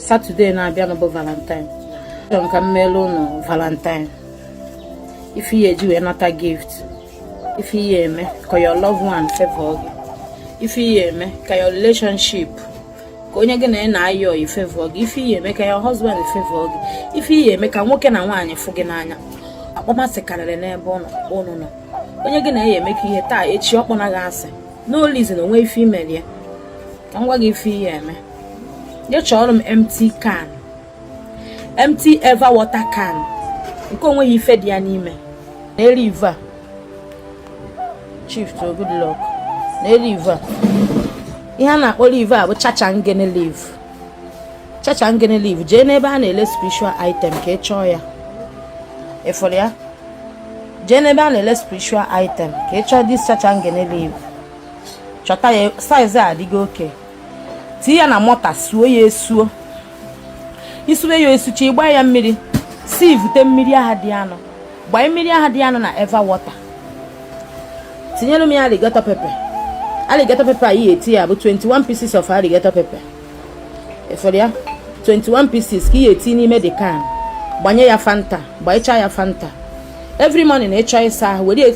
satọde na-abịanụ bụ valentine chọrọ m ka m meelu ụnụ valentine ife ị ya-eji wee nata gift ife ị ya-eme ka your loved one favor gị ife ị ya-eme ka your relationship ka onye gị na ya na-ayị ọyị favor gị ife ị ya-eme ka your husband favor gị ife ị ya-eme ka nwoke na nwaanyị fụ gị n'anya akpọmasị karịrị n'ebe ụnụ nọ onye gị na ya emekọ ihe taa echi ọ kpọba gị asị n'olizi na o nwe ife i meli ya ka m gwa gị ife ị ya-eme jee chọọrọ m empty can empty eva water can nke o nweghị ife dị ya n'ime nee leaf a chief to good luck nee leaf a ihe a na-akpọ leaf a bụ chacha ngene leaf chacha ngene leaf jee n'ebe a na-ele spiritual item ka ị chọọ ya ị fụrọ ya jee n'ebe a na-ele spiritual item ka ị chọọ this chacha ngene leaf chọta ya size a adịgo okay tinye ya na mortar suo ya esuo i sue ya esucha ị gbaa ya mmiri sieve-ute mmiri ahụ dị ya nụ gbanye mmiri ahụ dị ya nụ na eva water tinyere m ya alligator pepper alligator pepper anyị ya-eti ya bụ 21 pieces of alligator pepper efere ya 21 pieces ka ị ya-eti n'ime the can gbanye ya fanta gbanyechaa ya fanta every morning ị chọọ ịsa ahụ were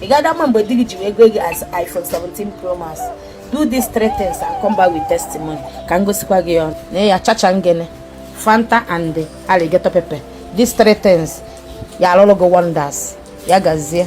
ị gaghị ama mgbe di gị ji wee goo gị as iPhone 17 Pro Max do these three things and come back with testimony ka m gosikwa gị ya na ya chacha ngene fanta and alligator pepper these three things ya-alụrụ gị wonders ya gazie